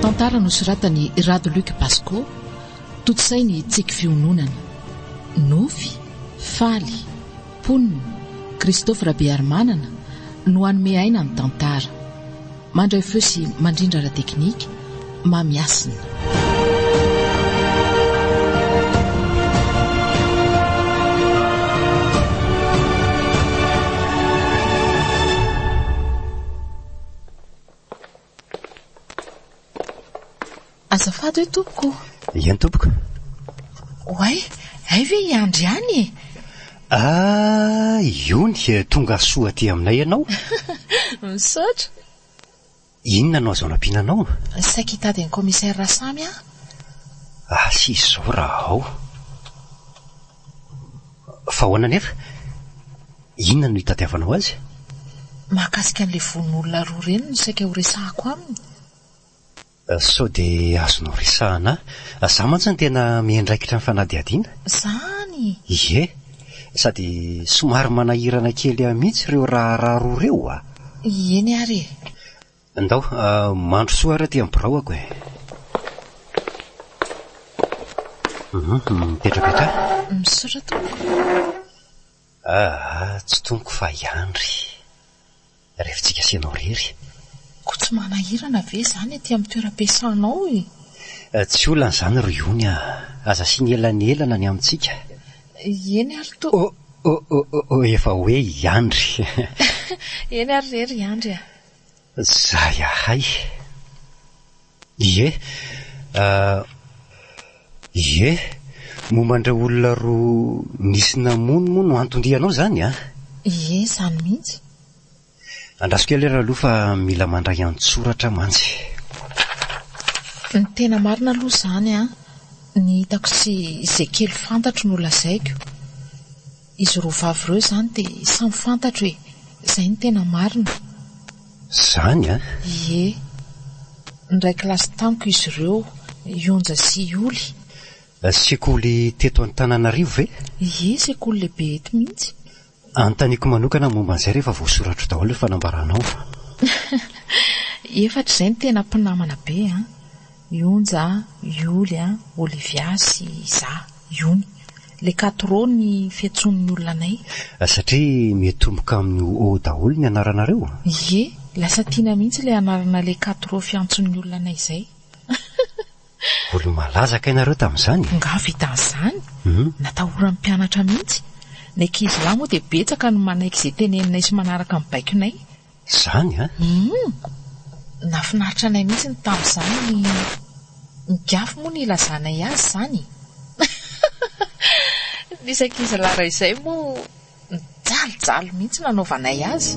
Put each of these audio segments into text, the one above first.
Tantara nosoratan'i Rado Luc Basco, tontosain'ny Tsiky Fiononana. Nofy, Faly, mponina, Christophe Rabearimanana no hanome aina ny tantara. Mandray feo sy mandrindra ara-teknika, Mamy Hasina. Azafady hoe tompoko o. Eny tompoko. Oay, hay ve i Andry ihany e? Ah, iony, tonga soa aty aminay ianao. Misaotra. Inona no azo anampiana anao? Saika hitady an'i Commissaire Rasamy aho. Asy izao raha ao. Fa ahoana anefa? Inona no hitadiavanao azy? Mahakasika an'ilay vono olona roa ireny no saika horesahako aminy. Sao dia azonao resahana ahy. Za mantsy no tena miandraikitra ny fanadihadiana. Zany! Ie. Sady somary manahirana kely ahy mihitsy ireo raharaha roa ireo a! Eny ary e! Ndao, mandrosoa ary aty amin'ny biraoko e! Hum, mipetraka akany. Misaotra tompoko. Aa tsy toniko fa iandry revintsika sy ianao rery. Koa tsy manahirana ve izany aty amin'ny toeram-piasanao e? Tsy olana izany ry Ony a! Aza asiana elanelana ny amintsika. Eny ary to. Oh oh oh oh oh efa hoe iandry. Eny ary rery iandry a! Zay ahay. Ie. Ie. Momba an'ireo olona roa nisy namono moa no anton-dianao izany an? Ie, izany mihitsy. Andraso kely ary aloha fa mila mandray an-tsoratra mantsy. Ny tena marina aloha izany an, ny hitako sy izay kely fantatro no lazaiko. Izy roa vavy ireo izany dia samy fantatro e! Izay no tena marina. Zany an! Ie! Niray kilasy tamiko izy ireo, i Onja sy i Oly. Sekoly teto Antananarivo ve? Ie, sekoly lehibe eto mihitsy. Anontaniako manokana momba an'izay rehefa voasoratro daholo ny fanambaranao fa. Efatra izay no tena mpinamana be an! Ionja, Ioly a, Olivia sy za, Iony. Le Katro ny fiantsoan'ny olona anay. Satria mitomboka amin'ny O daholo ny anaranareo? Ie, lasa tiana mihitsy ilay anarana le Katro fiantson'ny olona anay izay. Olo-malaza kay nareo tamin'izany e! Angaha vitan'izany? Natahoran'ny mpianatra mihitsy. Ny ankizilahy moa dia betsaka no manaiky izay teneninay sy manaraka ny baikonay. Izany an! Humm! Nafinaritra anay mihitsy ny tamin'izany ny Migafy moa no ilazanay azy izany e! Ny isak'izalah raha izay moa nijalijaly mihitsy nanaovanay azy.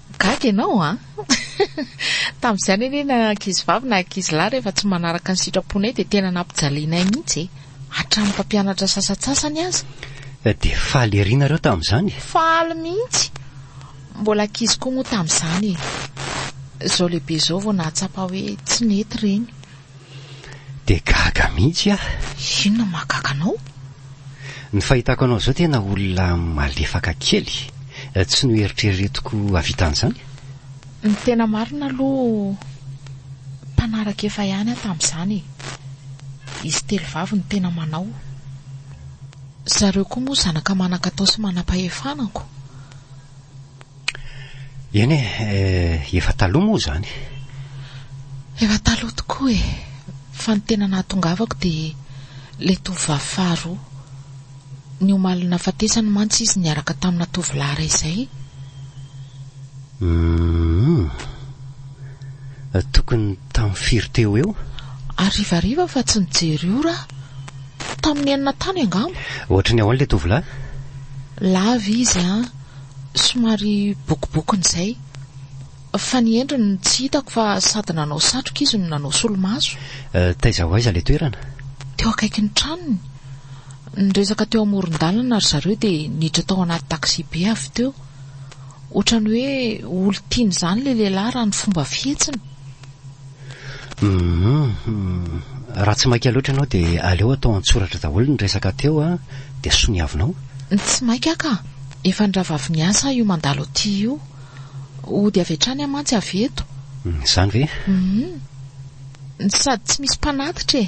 Gaga ianao an! Tamin'izany anie na ankizivavy na ankizilahy rehefa tsy manaraka ny sitraponay dia tena nampijalianay mihitsy e! Hatramin'ny mpampianatra sasantsasany aza. Dia faly ery nareo tamin'izany e! Faly mihitsy! Mbola ankizy koa moa tamin'izany e! Izao lehibe izao vao nahatsapa hoe tsy nety ireny. Dia gaga mihitsy aho. Inona no mahagaga anao? Ny fahitako anao izao tena olona malefaka kely. Tsy noeritreretiko hahavita an'izany. Ny tena marina aloha mpanaraka efa ihany aho tamin'izany e. Izy telo vavy no tena manao. Zareo koa moa zanaka manan-katao sy manam-pahefana ko. Eny e, eh, efa taloha moa izany. Efa taloha tokoa e, fa ny tena nahatongavako dia ilay tovovavy faharoa. Ny omaly nahafatesany mantsy izy niaraka tamina tovolahy iray izay. Hum, tokony tamin'ny firy teo eo? Harivariva fa tsy nijery ora. Tamin'ny enina tany angamba. Ohatry ny ahoana ilay tovolahy? Lava izy an. Somary bokobokony izay. Fa ny endriny no tsy hitako fa sady nanao satroka izy no nanao solomaso. Taiza ho aiza ilay toerana? Teo akaikin'ny tranony. Niresaka teo amoron-dalana ry zareo dia niditra tao anaty taxi-be avy teo. Ohatran'ny hoe olon-tiany izany ilay lehilahy raha ny fomba fihetsiny. Hum, raha tsy maika loatra ianao dia aleo atao an-tsoratra daholo ny resaka teo an, dia soniavinao. Tsy maika ka! Efa ny rahavavy miasa aho io mandalo aty io. Hody avy hatrany aho mantsy avy eto. Izany ve? Hum, sady tsy misy mpanatitra e!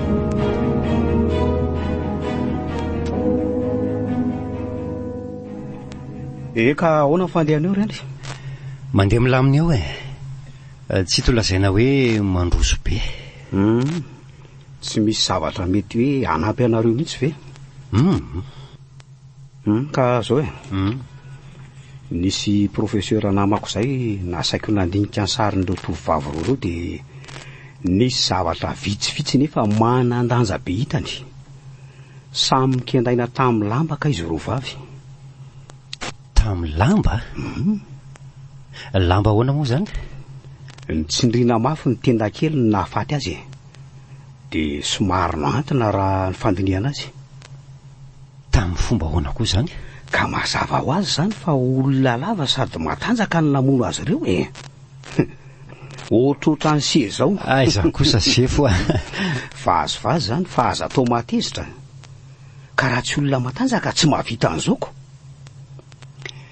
Ee ka ahoana ny fandehan'eo reny? Mandeha milamina eo e. Tsy hita ho lazaina hoe mandroso be. Hum, tsy misy zavatra mety hoe hanampy anareo mihitsy ve? Hum. Humm ka zao e! Nisy professeur namako zay nasaiko nandinika ny sarin'ireo tovovavy roa ireo dia nisy zavatra vitsivitsy nefa manan-danja be hitany. Samy nikendaina tamin'ny lamba kay izy roa vavy. Tamin'ny lamba? Lamba ahoana moa izany? Nitsindriana mafy ny tenda kely ny nahafaty azy e! Dia somary nohantina raha ny fandinihana azy. Tamin'ny fomba ahoana koa izany? Ka mazava ho azy izany fa olona lava sady matanjaka no namono azy ireo e! Ohatrohatran'i Hse izao. Aiza kosa sefo a! Vazivazy izany fa aza atao mahatezitra. Ka raha tsy olona matanjaka tsy mahavita an'izao ko!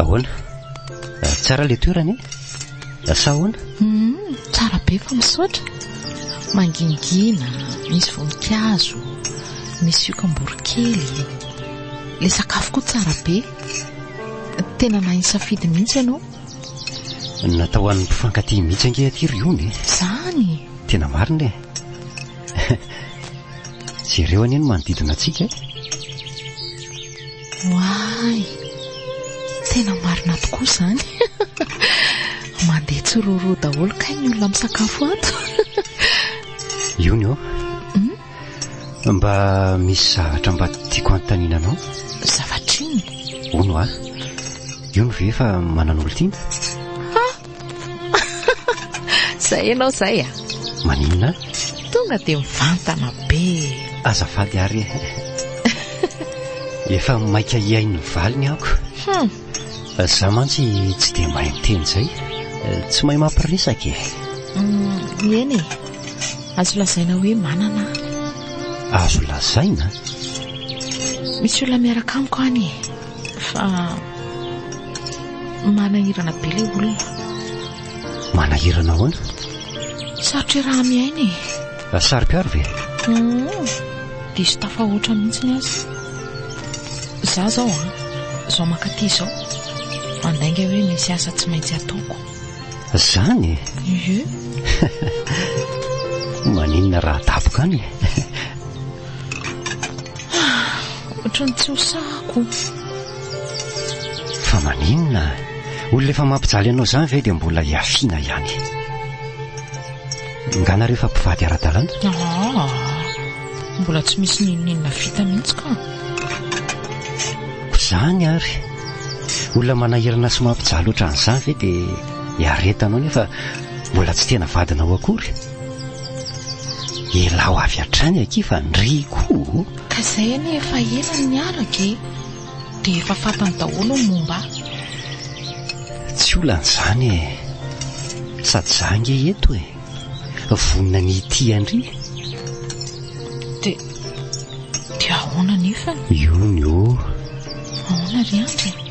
Ahoana? Ah, tsara ilay toerana e? Ah, sa ahoana? Hmm, tsara be fa misaotra. Mangingina, misy voninkazo, misy yokamborokely. Ilay sakafo koa tsara be. Tena nahay nisafidy mihitsy ianao. Natao ho an'ny mpifankatia mihitsy ange aty ry Ony. Zany. Tena marina e. Jereo anie ny manodidina antsika e. Oay. Tena marina tokoa zany. Mandeha tsiroro daholo kay ny olona misakafo ato. Ony ô. Mba misy zavatra mba tiako hanontaniana anao. Zavatra inona? Hono hoa. Io no ve efa manana olon-tiana? Ha! Izay ianao izay a! Maninona? Tonga dia mivantana be. Azafady ary e. Efa maika hihaino ny valiny aho ko. Hum. Za mantsy tsy dia mahay miteny izay. Tsy mahay mampiresaka e. Eny e. Azo lazaina hoe manana aho. Azo lazaina? Misy olona miaraka amiko any e. Fa manahirana be ilay olona. Manahirana ahoana? Sarotra iaraha-miaina e. Ry saro-piaro ve? Humm! Diso tafahoatra mihitsy ny azy. Za zao an! Zao mankaty izao, mandainga hoe misy asa tsy maintsy ataoko. Zany e! Ie! Maninona raha daboka any e! Ah! Ohatry ny tsy ho sahako! Fa maninona? Olona efa mampijaly anao zany ve dia mbola hiafiana ihany? Ingahy nareo efa mpivady ara-dalàna? Aa! Mbola tsy misy n'inon'inona vita mihitsy ka! Izany ary! Olona manahirana sy mampijaly ohatran'izany ve dia iaretanao nefa mbola tsy tena vadinao akory? Ialaho avy hatrany akia fa ndry koa o! Ka izay anie efa ela no niaraka e! Dia efa fantany daholo ny momba ahy. Tsy olana izany e! Sady izaho ange eto e! Vonona ny hitia an-dry. Dia, dia ahoana anefany? Io ny oh! Ahoana ry Andry e?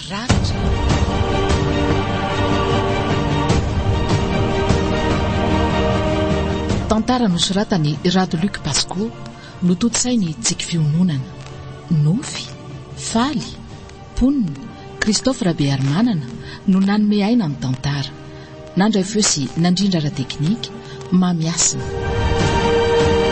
Tantara nosoratan'i Rado Luc Pasco, notontosain'i Tsiky Fiononana. Nofy, Faly, mponina, Christophe Rabearimanana no nanome aina ny tantara. Nandray feo sy nandrindra ara-teknika, Mamy Hasina.